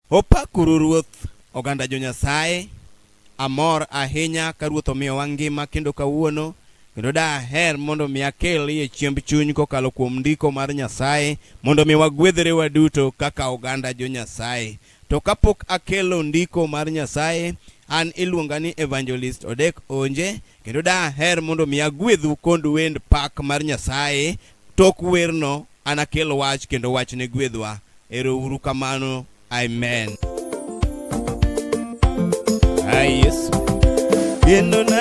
Opakuru Ruoth, oganda jo Nyasaye. Amor ahinya ka Ruoth omiyowa ngima kendo kawuono, kendo daher mondo mi akel iye chiemb chuny kokalo kuom ndiko mar Nyasaye mondo mi wagwedhre waduto kaka oganda jo Nyasaye. To kapok akelo ndiko mar Nyasaye, an iluonga ni Evangelist Odek Onje, Kendo daher mondo mi agwedhu kond wend pak mar Nyasaye. Tok werno anakel wach kendo wach ne gwedhwa. Ero uru kamano. Amen. Ay, Yesu. Yendo na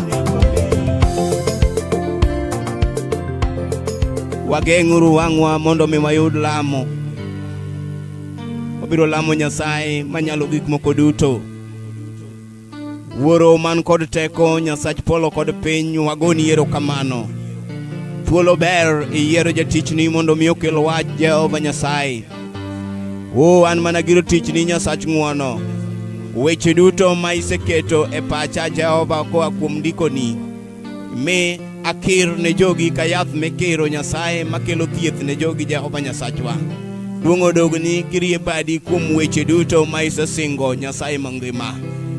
Wageng'uru wang'wa mondo mi wayud lamo. Wabiro lamo Nyasaye manyalo gik moko duto. Wuoro man kod teko, Nyasach polo kod piny, wagoni erokamano. Thuolo ber iyiero jatichni mondo mi okel wach Jehova Nyasaye. Oh, an mana giro tichni Nyasach ng'wono. Weche duto ma iseketo e pacha Jehova koa kuom ndikoni, mi akir ne jogi ka yath mikiro Nyasaye makelo thieth ne jogi Jehova Nyasachwa. Duong' odogni kirie badi kuom weche duto ma isesingo Nyasaye mangima.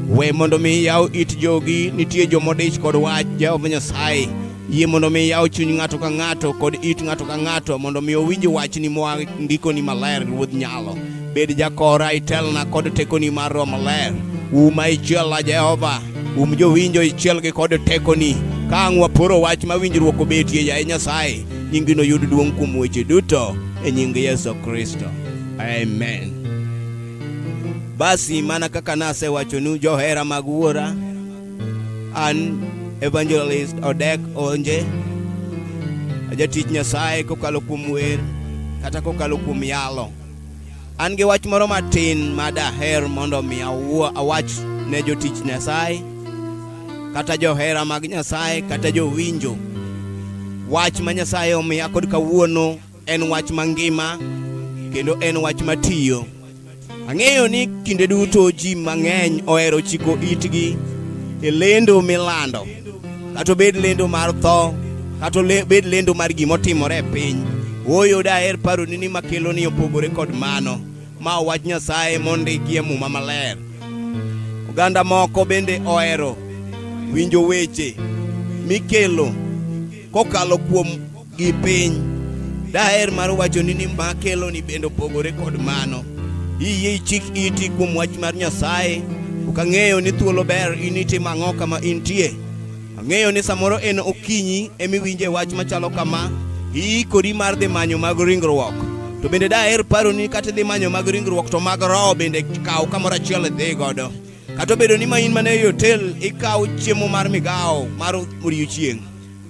We mondo mi yaw it jogi, nitie jomodich kod wach Jehova Nyasaye. Yie mondo mi yaw chuny ng'ato ka ng'ato kod it ng'ato ka ng'ato mondo mi owinj wachni moa ndikoni maler Ruodh Nyalo. Bed jakora itelna kod tekoni mar Roho Maler. Uma ichiela Jehova, um jowinjo ichielgi kod tekoni. Ka ang' waporo wach ma winjruok obetie, yaye Nyasaye, nyingi noyud duong' kuom weche duto e nying Yesu Kristo. Amen. Basi mana kaka nasewachonu johera mag Wuora, An Evangelist Odek Onje, ajatich Nyasaye kokalo kuom wer kata kokalo kuom yalo. An gi wach moro matin ma daher mondo mi awuo awach ne jotich Nyasaye kata johera mag Nyasaye kata jowinjo wach ma Nyasaye omiya kod kawuono en wach mangima kendo en wach matiyo. Ang'eyo ni kinde duto ji mang'eny ohero chiko itgi e lendo milando, kata obed lendo mar tho, kata obed lendo mar gima otimore e piny. Ooyo daher paroni ni makelo ni opogore kod mano, ma wach Nyasaye mondiki e Muma Maler. Oganda moko bende ohero winjo weche mikelo kokalo kuom gi piny daher mar wachoni ni ma keloni bende opogore kod mano iyie ichik iti kuom wach mar nyasaye ok ang'eyo ni thuolo ber in itim ang'o kama intie ang'eyo ni samoro en okinyi emiwinje wach machalo kama iikori mar dhi manyo mag ringruok to bende daher paroni kata idhi manyo mag ringruok to mag roho bende kaw kamoro achiel idhi godo kata obedo ni ma in mana e hotel ikaw chiemo mar migawo mar odiechieng'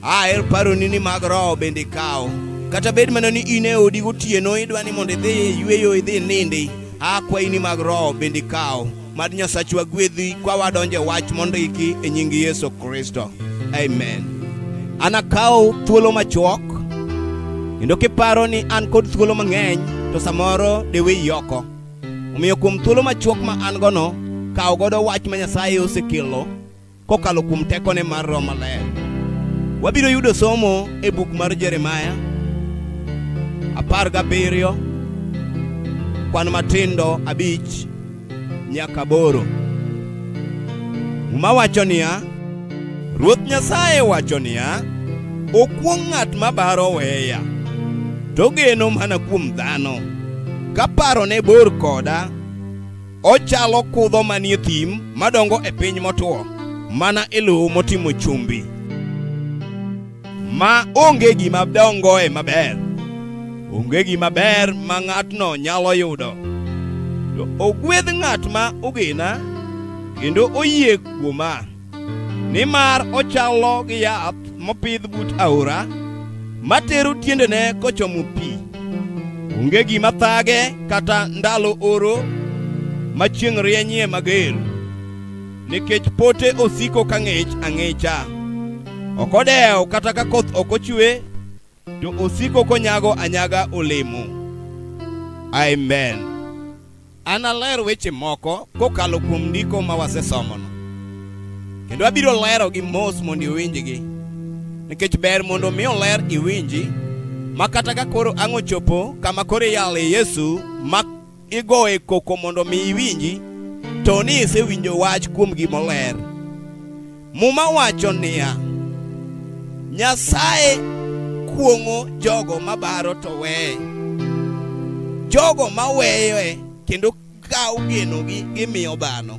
Aher paroni ni mag roho bende ikawo. Kata bed mana ni in e odi gotieno idwa ni mondo idhi yueyo idhi nindi, akwayi ni mag roho bende ikawo. Mad Nyasachwa gwedhi kwa wadonjo e wach mondiki e nying Yesu Kristo. Amen. Anakawo thuolo machuok kendo kiparo ni an kod thuolo mang'eny to samoro deweyi oko. Omiyo kuom thuolo machuok ma an gono, kaw godo wach ma Nyasaye osekelo kokalo kuom tekone mar Roho Maler. Wabiro yudo somo e buk mar Jeremaya apar gabiriyo kwan matindo abich nyaka boro. Muma wacho niya, Ruoth Nyasaye wacho niya, okuong' ng'at ma baro weya, to geno mana kuom dhano, ka parone bor koda Ochalo kudho manie thim madongo e piny motwo, mana e lowo motimo chumbi, ma onge gima dongoe maber, onge gima ber ma ng'atno nyalo yudo. To ogwedh ng'at ma ogena kendo oyie kuoma. Nimar ochalo gi yath mopidh but aora matero tiendene kochomo pi. Onge gima thage kata ndalo oro ma chieng' rienyie mager, nikech pote osiko ka ng'ich ang'icha. Ok odewo kata ka koth ok ochwe, to osiko konyago anyaga olemo. Amen. Analer weche moko kokalo kuom ndiko ma wasesomono, kendo abiro lerogi mos mondo iwinjgi, nikech ber mondo mi oler iwinji, ma kata ka koro ang' ochopo kama koro iyale Yesu mak igoye koko mondo mi iwinji to ni isewinjo wach kuom gima oler. Muma wacho niya, Nyasaye kuong'o jogo mabaro to weye, jogo maweyoe kendo kawo genogi gimiyo dhano.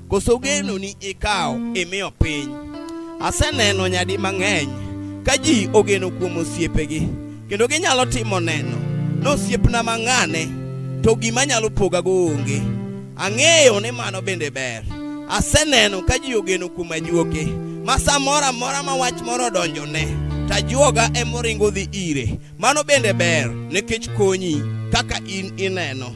Koso genoni ikawo imiyo piny? Aseneno nyadi mang'eny ka ji ogeno kuom osiepegi kendo ginyalo timo neno ni osiepna mang'ane to gima nyalo pogago onge. Ang'eyo ni mano bende ber. Aseneno ka ji ogeno kuom ajuoke ma samoro amora ma wach moro odonjone to ajuoga emoringo dhi ire. Mano bende ber nikech konyi kaka in ineno.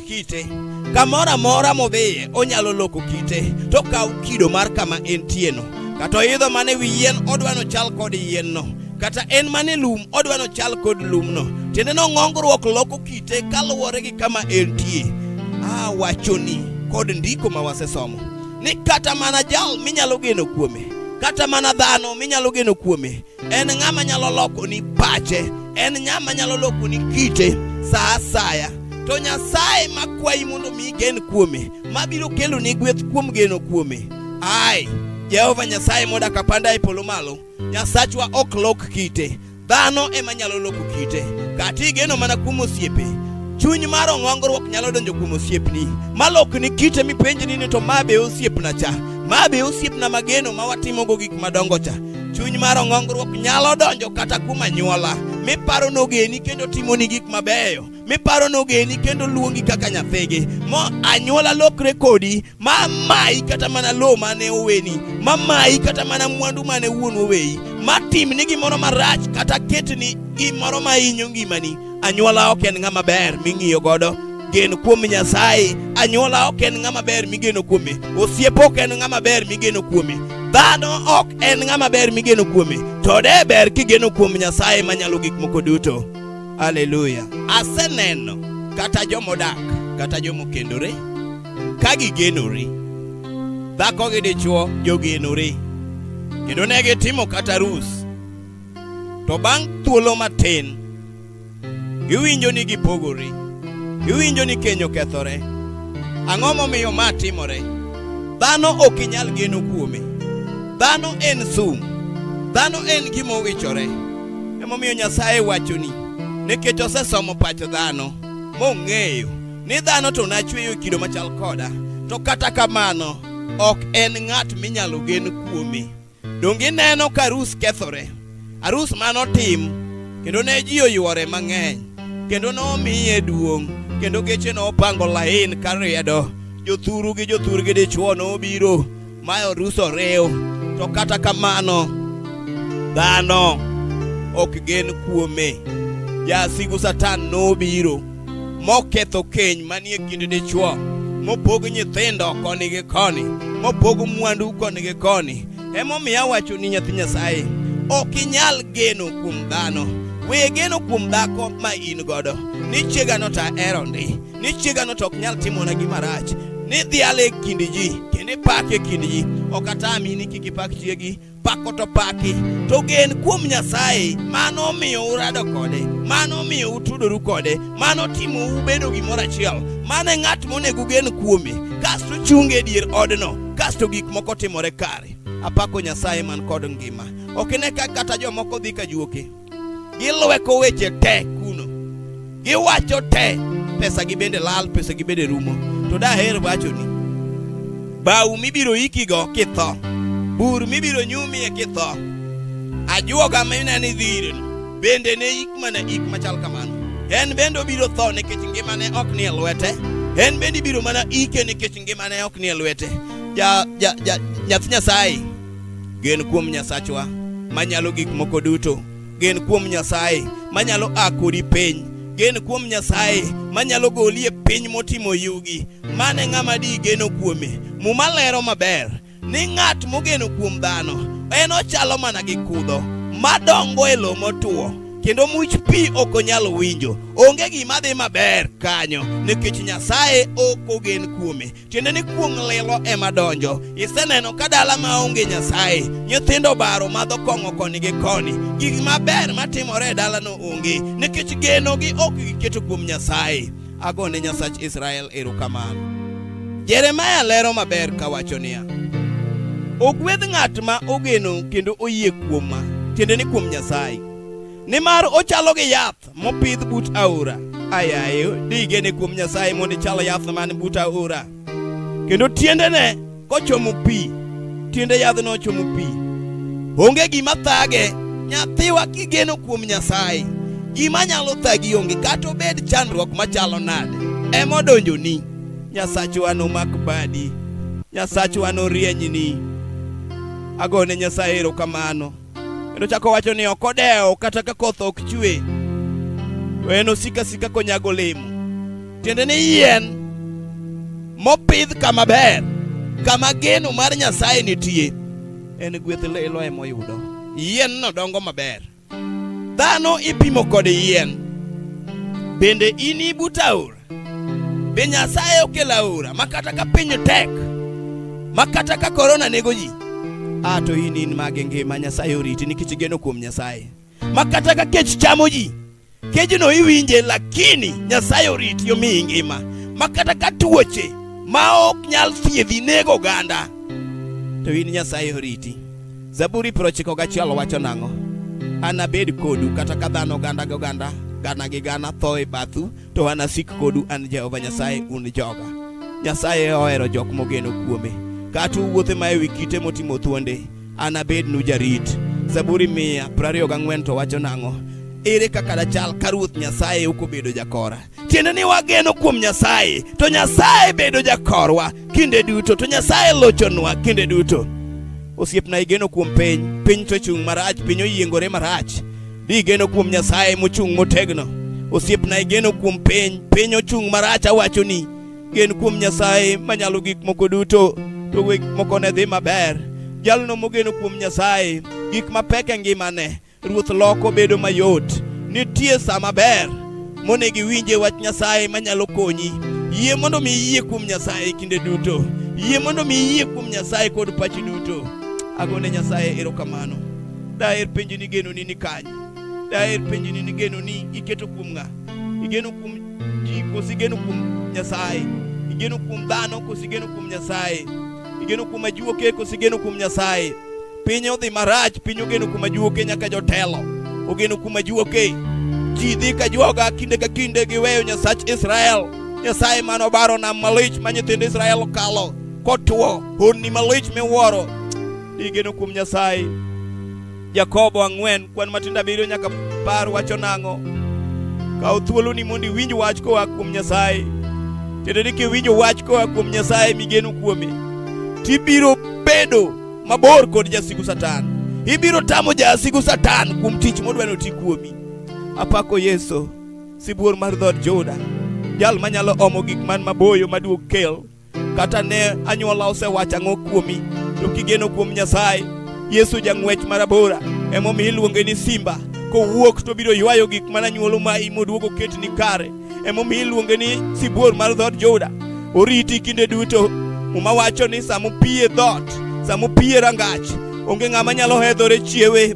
kite kamoro amora modhiye onyalo loko kite to kaw kido mar kama entieno kata oidho mane wi yien odwano chal kod yienno kata en mane lum odwano chal kod lumno tiende no ng'ongruok loko kite kaluwore gi kama entie a wachoni kod ndiko ma wasesomo ni kata mana jal minyalo geno kuome kata mana dhano minyalo geno kuome En ng'ama nyalo lokoni pache, en ng'ama nyalo lokoni kite sa asaya. To Nyasaye makwayi mondo mi igen kuome, mabiro kelo ni gweth kuom geno kuome. Ai, Jehova Nyasaye modak apanda e polo malo, Nyasachwa ok lok kite, dhano ema nyalo loko kite. Kata igeno mana kuom osiepe, chuny mar ong'ongruok nyalo donjo kuom osiepni malokni kite mipenjni ni to ma be osiepna cha ma be osiepna mageno ma watimogo gik madongo cha Chuny mar ong'ongruok nyalo donjo kata kuom anyuola miparo nogeni kendo timoni gik mabeyo miparo nogeni kendo luongi kaka nyathigi mo anyuola lokre kodi ma mayi kata mana lowo mane oweni ma mayi kata mana mwandu mane wuon oweyi ma timni gimoro marach kata ketni gimoro ma hinyo ngimani Anyuola ok en ng'ama ber ming'iyo godo gen kuom Nyasaye. Anyuola ok en ng'ama ber migeno kuome. Osiep ok en ng'ama ber migeno kuome. Dhano ok en ng'ama ber migeno kuome. To de ber kigeno kuom Nyasaye manyalo gik moko duto. Haleluya. Aseneno kata jomodak kata jomokendore ka gigenore. Dhako gi dichwo jogenore. Kendo ne gitimo kata arus To bang' thuolo matin, giwinjo ni gipogore, giwinjo ni keny okethore. Ang'o momiyo ma timore? Dhano ok inyal geno kuome. Dhano en sum, dhano en gima owichore. Emomiyo Nyasaye wachoni, nikech osesomo pach dhano mong'eyo ni dhano to nachweyo kido machal koda, to kata kamano ok en ng'at minyalo gen kuome. Donge ineno ka arus kethore? Arus mane otim kendo ne ji oywore mang'eny kendo nomiye duong' kendo geche nopango lain ka riedo jothuru gi jothur gi dichwo nobiro ma arus oriw to kata kamano dhano ok gen kuome jasigu satan nobiro moketho keny manie kind dichwo, mopog nyithindo koni gi koni, mopog mwandu koni gi koni. Emomiyo awacho ni nyathi Nyasaye, ok inyal geno kuom dhano. We geno kuom dhako ma in godo, ni chiegano to ahero ndi, ni chiegano to ok nyal timona gima rach, ni dhiale e kind ji, kendo ipake e kind ji. Ok atami ni kik ipak chiegi. pako to paki to gen kuom Nyasaye mano omiyo urado kode mano omiyo utudoru kode mano timo ubedo gimoro achiel mano e ng'at monego gen kuome kasto chunge dier odno kasto gik moko timore kare apako Nyasaye man kod ngima ok ne ka kata jomoko dhi ka juoke gilweko weche te kuno, giwacho te, pesa gi bende lal, pesa gi bende rumo. To daher wacho ni bau mibiro ikigo kitho, bur mibiro nyumie kitho, ajuoga mine ni dhireno bende ne ik mana ik machal kamano. En bende obiro tho nikech ngimane ok nie lwete, en bende ibiro mana ike nikech ngimane ok nie lwete. Ja, ja, ja, nyathi Nyasaye Gen kuom Nyasachwa manyalo gik moko duto. Gen kuom Nyasaye manyalo a kodi piny. Gen kuom Nyasaye manyalo goli e piny motimo yugi. Mano e ng'ama di geno kuome. Muma lero maber ni ng'at mogeno kuom dhano en ochalo mana gi kudho madongo e lowo motwo kendo much pi ok onyal winjo. Onge gima dhi maber kanyo nikech Nyasaye ok ogen kuome. tiende ni kuong' lilo ema donjo. Iseneno ka dala ma onge Nyasaye, nyithindo baro madho kong'o koni gi koni. Gik maber matimore e dalano onge, nikech genogi ok giketo kuom Nyasaye. Ago ne Nyasach Israel erokamano. Jeremaya lero maber kawacho niya, ogwedh ng'at ma ogeno kendo oyie kuoma, tiende ni kuom Nyasaye, nimar ochalo gi yath yath mopidh but aora ayayo digene kuom nyasaye mondo ichal yath man but aora kendo tiendene kochomo pi tiende yadhno ochomo pi onge gima thage nyathiwa kigeno kuom nyasaye gima nyalo thagi onge kata obed chandruok machalo nade emodonjoni nyasachwa nomak badi nyasachwa norienyni agone nyasaye erokamano Kendo chako wacho ni ok odewo kata ka koth ok chwe, to en osika sika konyago olemo. Tiende ni yien mopidh kama ber, kama geno mar Nyasaye nitie, en gweth lilo ema oyudo. Yienno dongo maber. Dhano ipimo kod yien. Bende in ibuta aora? Be Nyasaye okelo aora ma kata ka piny tek ma kata ka korona nego ji a to in in mage ngima Nyasaye oriti nikech igeno kuom Nyasaye ma kata ka kech chamo ji kejno iwinje lakini Nyasaye oriti omiyi ngima ma kata ka tuoche ma ok nyal thiedhi nego oganda to in Nyasaye oriti. Zaburi prochiko gachiel wacho nang'o? Anabed kodu kata ka dhano ganda gi oganda gana gi gana tho e bathu to anasik kodu an Jehova Nyasaye un joga. Nyasaye ohero jok mogeno kuome. Kata uwuothe ma ewi kite motimo thuonde, anabednu jarit. Zaburi mia prariyo gang'wen to wacho nang'o? Ere kaka dachal ka Ruoth Nyasaye ok obedo jakora? Tiende ni wageno kuom Nyasaye, to Nyasaye bedo jakorwa kinde duto, to Nyasaye lochonwa kinde duto. Osiepna igeno kuom piny, piny to chung' marach, piny oyiengore marach. Di igeno kuom Nyasaye mochung' motegno. Osiepna igeno kuom piny, piny ochung' marach awachoni. Gen kuom Nyasaye manyalo gik moko duto, to we gik moko ne dhi maber. Jalno mogeno kuom Nyasaye, gik mapek e ngimane, ruoth loko bedo mayot. Nitie sa maber monego iwinje wach Nyasaye manyalo konyi. Yie mondo mi iyie kuom Nyasaye kinde duto. Yie mondo mi iyie kuom Nyasaye kod pachi duto. Agone Nyasaye erokamano. Daher penjo ni geno ni ni kanye? Daher penjo ni ni geno ni iketo kuom ng'a? Igeno kuom ji kosi igeno kuom Nyasaye? Igeno kuom dhano kosi igeno kuom Nyasaye? Igeno kuom ajuoke kosi igeno kuom Nyasaye? Piny odhi marach, piny ogeno kuom ajuoke nyaka jotelo. Ogeno kuom ajuoke. Ji dhi ka joga kinde ka kinde giweyo Nyasach Israel. Nyasaye mano baro nam malich ma nyithind Israel kalo kotwo, honni malich miwuoro Igeno kuom Nyasaye. Jakobo ang'wen kwan matindo abiriyo nyaka par wacho nang'o? Kaw thuoloni mondo iwinj wach koa kuom Nyasaye. Tiende ni kiwinjo wach koa kuom Nyasaye migeno kuome, tibiro bedo mabor kod jasigu Satan. Ibiro tamo jasigu Satan kuom tich modwa ni oti kuomi. Apako Yesu, sibuor mar dhood Juda, jal manyalo omo gik man maboyo maduog kel kata ne anyuola osewacho ang'o kuomi, to kigeno kuom Nyasaye, Yesu jang'wech marabora emomiyo iluonge ni simba. Kowuok to biro ywayo gik mana nyuolo ma imoduogo ket ni kare. Emomiyo iluonge ni sibuor mar dhood Juda. Oriti kinde duto. Muma wacho ni samopiye dhoot, samopiye rangach, onge ng'ama nyalo hedhore chiewe.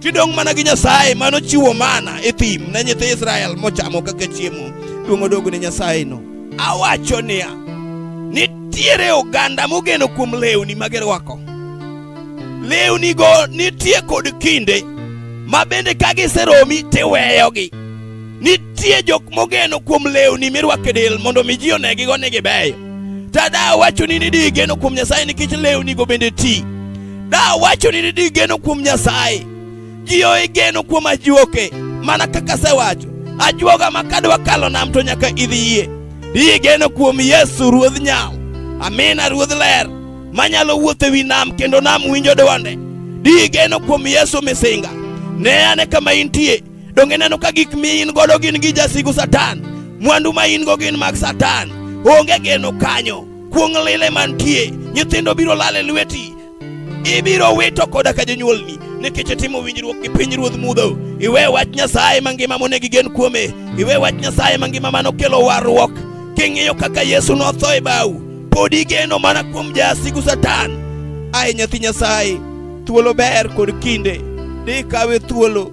Kidong' mana gi Nyasaye mano chiwo mana e thim ne nyithi Israel mochamo kaka chiemo, duong' odogo ne Nyasayeno. Awacho niya, nitiere oganda mogeno kuom lewni ma girwako. Lewnigo nitie kod kinde ma bende ka giseromi tiweyogi. Nitie jok mogeno kuom lewni mirwako e del mondo mi ji onegigo ni gibeyo. Tada awacho ni nidigeno kuom Nyasaye nikech lewnigo bende ti. Da wacho ni di geno kuom Nyasaye. Ji oe geno kuom ajuoke mana kaka sewacho. Ajuoga ma kadwa kalo nam to nyaka idhi yie. Di geno kuom Yesu Ruodh Nyao. Amina Ruodh Ler manyalo wuotho ewi nam kendo nam winjo dwonde. Di geno kuom Yesu misinga. Ne ane kama intie. Donge neno ka gik mi in godo gin gi jasigu Satan. Mwandu ma in go gin mag Satan. Onge geno kanyo. Kuong' lile mantie, nyithindo biro lal e lweti, ibiro wito koda ka jonyuolni nikech itimo winjruok gi piny ruodh mudho. Iwe wach Nyasaye mangima monego igen kuome, iwe wach Nyasaye mangima manokelo warruok. King'iyo kaka Yesu notho e bau, pod igeno mana kuom jasigu Satan. Aye nyathi Nyasaye, thuolo ber kod kinde, dhi kawe thuolo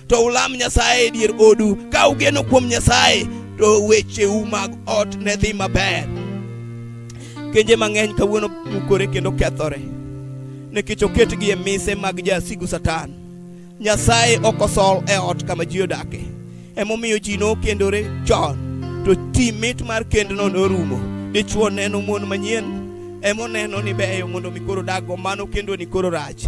to ulam Nyasaye e dier odu. Ka ugeno kuom Nyasaye, to wecheu mag ot ne dhi maber. Kenje mang'eny kawuono mukore kendo kethore nikech oketgi e mise mag jasigu Satan. Nyasaye ok osol e ot kama ji odake, emomiyo ji nokendore chon, to ti mit mar kendno norumo. Dichwo neno mon manyien emoneno ni beyo mondo mi koro dago mano kendo ni koro rach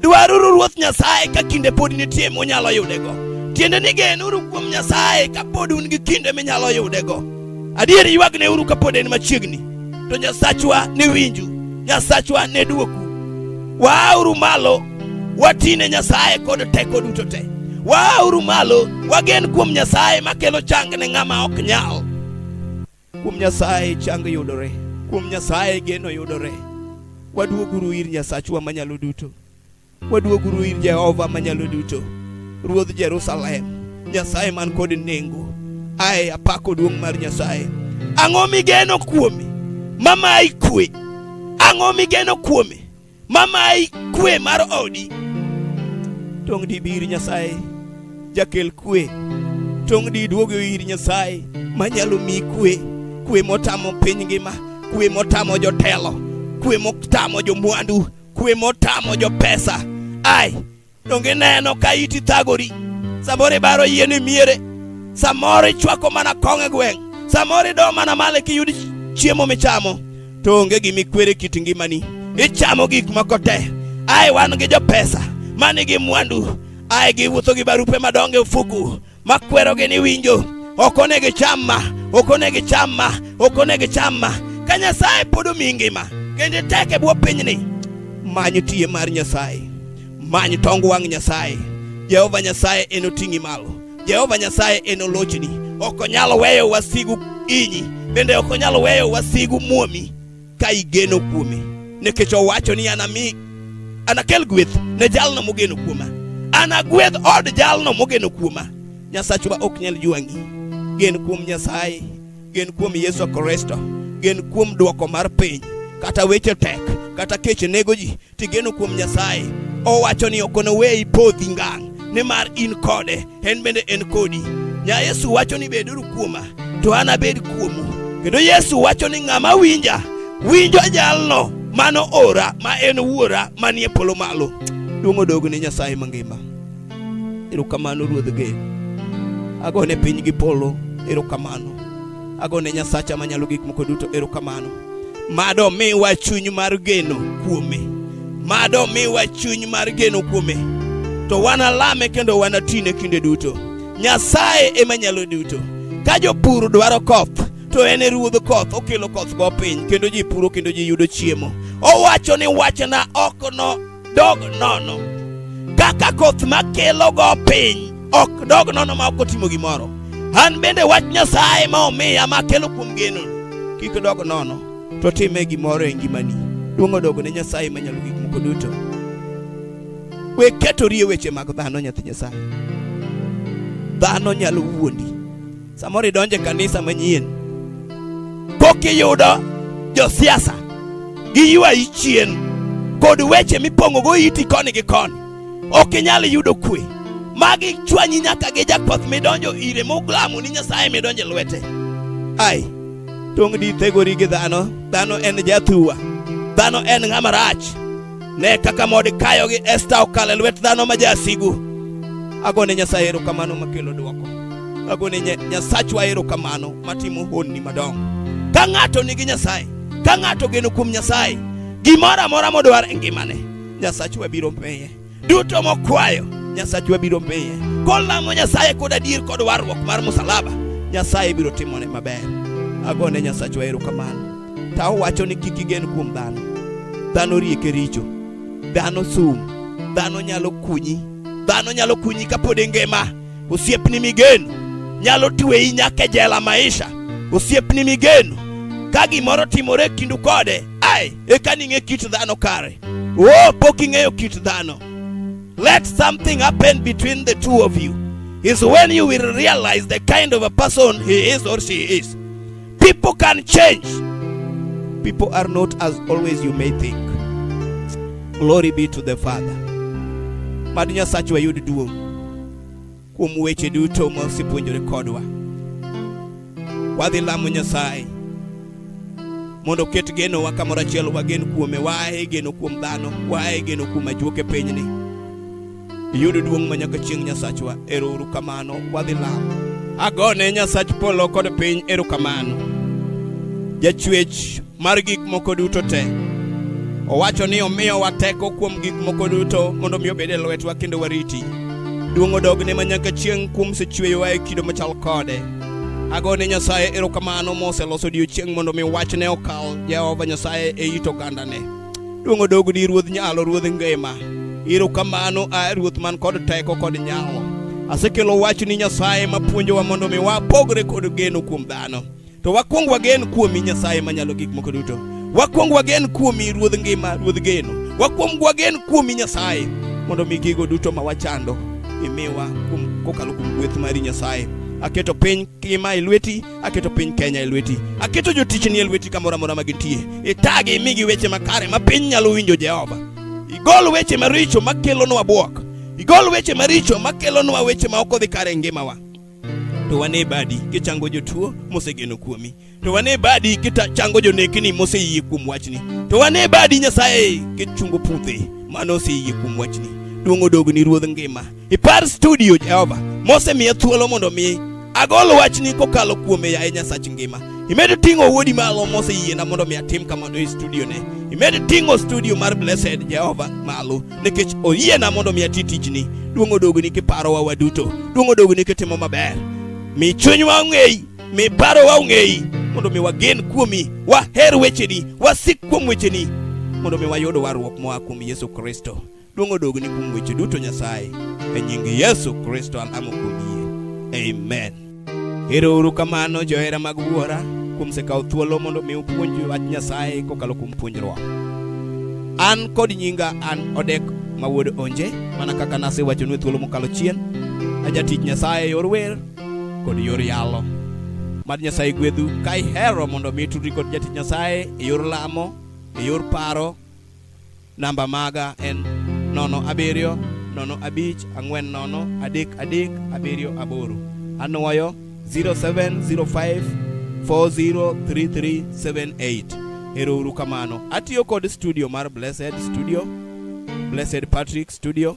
Dwaruru Ruoth Nyasaye ka kinde pod nitie munyalo yudego. Tiende ni genuru kuom Nyasaye ka pod un gi kinde minyalo yudego. Adier ywagneuru ka pod en machiegni, to Nyasachwa ne winju, Nyasachwa ne dwoku. Waauru malo watine Nyasaye kod teko duto te. Waauru malo wagen kuom Nyasaye makelo chang ne ng'ama ok nyal. Kuom Nyasaye chang yudore, kuom Nyasaye geno yudore. Waduoguru ir Nyasachwa manyalo duto, waduoguru ir Jehova manyalo duto, Ruodh Jerusalem, Nyasaye man kod nengo. Aye, apako duong' mar Nyasaye. Ang'o migeno kuome mamayi kwe? Ang'o migeno kuome mamayi kwe mar odi tong' di bir nyasaye jakel kwe tong' di duogo ir nyasaye manyalo mi kwe kwe motamo piny ngima kwe motamo jotelo kwe motamo jomwandu kwe motamo jopesa ai Donge ineno ka iti thagori? Samoro ibaro yie ni miere, samoro ichwako mana kong' e gweng', samoro ido mana male kiyud chiemo michamo, to onge gima ikwere kit ngimani. Ichamo gik moko te. Ai wan gi jopesa ma nigi mwandu, ai giwuotho gi barupe madongo e ofuku, makwerogi ni winjo ok onego icham ma ok onego icham ma ok onego icham ma ka Nyasaye pod omi ngima kendo itek e bwo pinyni many tiye mar Nyasaye many tong wang' Nyasaye Jehova Nyasaye enoting'i malo Jehova Nyasaye enolochni ok onyal weyo wasigu inyi bende ok onyal weyo wasigu muomi ka igeno kuome, nikech owacho ni anami anakel gweth ne jalno mogeno kuoma, anagwedh od jalno mogeno kuoma. Nyasachwa ok nyal jwangi. Gen kuom Nyasaye, gen kuom Yesu Kristo, gen kuom dwoko mar piny. Kata weche tek, kata kech nego ji, Tigeno kuom Nyasaye, owacho ni ok onoweyi podhi ngang', nimar in kode, en bende en kodi. Nya Yesu wacho ni beduru kuoma, to an abed kuomu. Kendo Yesu wacho ni ng'ama winja, winjo jalno mano ora ma en wuora manie polo malo. Duong' odog ni Nyasaye mangima. Erokamano Ruodh Gen. Agone piny gi polo. Erokamano. Agone Nyasacha manyalo gik moko duto erokamano. Mad omiwa chuny mar geno kuome. Mad omiwa chuny mar geno kuome. To wanalame kendo wanatine kinde duto. Nyasaye ema nyalo duto. Ka jopur dwaro koth, to en e ruodh koth, okelo koth go piny kendo ji puro kendo ji yudo chiemo. Owacho ni wachna ok no dog nono kaka koth makelogo piny ok dog nono ma ok otimo gimoro. An bende wach Nyasaye ma omiya makelo kuom geno kik dog nono, to time gimoro e ngimani. Duong' odog ne Nyasaye manyalo gik moko duto. We ketori e weche mag dhano, nyathi Nyasaye. Dhano nyalo wuondi. Samoro idonje kanisa manyien pok iyudo josiasa gi ywayi chien kod weche mipong'ogo iti koni gi koni, ok inyal yudo kwe. Magi chwanyi nyaka gi jakwath midonjo ire muglamo ni Nyasaye midonje lwete. Ai, tong' di thegori gi dhano, dhano en jathuwa, dhano en ng'ama rach. Ne kaka Modikayo gi Esta okalo e lwet dhano ma jasigu. Agone Nyasaye erokamano makelo dwoko. Agone Nyasachwa erokamano matimo honni madongo. Ka ng'ato nigi Nyasaye, ka ng'ato geno kuom Nyasaye, gimoro amora modwar e ngimane, Nyasachwa biro miye. Duto mokwayo, Nyasachwa biro miye. Kolamo Nyasaye kod adier kod warruok mar musalaba, Nyasaye biro timone maber. Agone Nyasachwa erokamano. ta owacho ni kik igen kuom dhano dhano rieke richo dhano sum dhano nyalo kunyi dhano nyalo kunyi kapod ingima osiepni migeno nyalo tweyi nyaka e jela maisha osiepni migeno ka gimoro timore e kindu kode ai eka ning'e kit dhano kare oh pok ing'eyo kit dhano let something happen between the two of you is when you will realize the kind of a person he is or she is People can change. People are not as always you may think. Glory be to the Father. Mad Nyasaach wayud duong' kuom weche duto ma osepuonjore kodwa. Wadhi lamo Nyasaye mondo oket genowa kamoro achiel, wagen kuome, waaye geno kuom dhano, waaye geno kuom ajuoke pinyni. Yud duong' ma nyaka chieng' Nyasachwa, ero uru kamano, wadhi lamo. Agone Nyasach polo kod piny ero kamano. Jachwech mar gik moko duto te. Owacho ni omiyo wateko kuom gik moko duto mondo mi obed e lwetwa kendo wariti. Duong' odogne ma nyaka chieng' kuom sechweyowa e kido machal kode. Agone Nyasaye ero kamano moseloso odiechieng' mondo mi wachne okal Jehova Nyasaye e it ogandane. Duong' odog ni Ruodh Nyalo, Ruodh Ngima. Iro kamano a Ruoth man kod teko kod nyalo. Asekelo wach ni Nyasaye ma puonjowa mondo mi wapogre kod geno kuom dhano. To wakwong wagen kuomi Nyasaye manyalo gik moko duto. Wakwong wagen kuomi Ruodh Ngima, Ruodh Geno. Wakwong wagen kuomi Nyasaye mondo mi gigo duto ma wachando imiwa kokalo kuom gweth mari Nyasaye. Aketo piny kima e lweti Aketo piny Kenya e lweti, aketo jotichni e lweti kamoro amora ma gintie. Itagi imigi weche makare ma piny nyalo winjo Jehova. Igol weche maricho ma kelonwa bwok, igol weche maricho ma kelonwa weche ma ok odhi kare e ngimawa. To wane badi kichango jotuo mosegeno kuomi, to wane badi kichango jonekni moseyie kuom wachni, to wane badi Nyasaye kichungo puthe mano oseyie kuom wachni. Duong' odogni Ruodh ngima. Ipar studio Jehova mosemiya thuolo mondo mi agol wachni kokalo kuome yaye Nyasach ngima. Imed ting'o wuodi malo moseyiena mondo mi atim kamano e studio ne. Imed ting'o studio mar Blessed Jehova malo nikech oyiena mondo mi ati tijni. Duong' odogni kiparowa waduto. Duong' odogni kitimo maber. Mi chunywa ong'eyi, mi parowa ong'eyi mondo mi wagen kuomi, waher wecheni, wasik kuom wecheni mondo mi wayud warruok moa kuom Yesu Kristo. Duong' odogne kuom weche duto Nyasaye. E nying Yesu Kristo alamo kuom yie. Amen. Ero uru kamano johera mag Wuora kuom sekawo thuolo mondo mi upuonj wach Nyasaye kokalo kuom puonjruok. An kod nyinga an Odek ma wuod Onje, mana kaka nasewachonu e thuolo mokalo chien, ajatich Nyasaye e yor wer kod yor yalo. Mad Nyasaye gwedhu ka ihero mondo mi tudri kod jatich Nyasaye e yor lamo, e yor paro, Namba maga en nono abiriyo nono abich ang'wen nono adek adek abiriyo aboro. Anwoyo 0705 403378. Ero uru kamano. Atiyo kod studio mar Blessed Studio, Blessed Patrick Studio.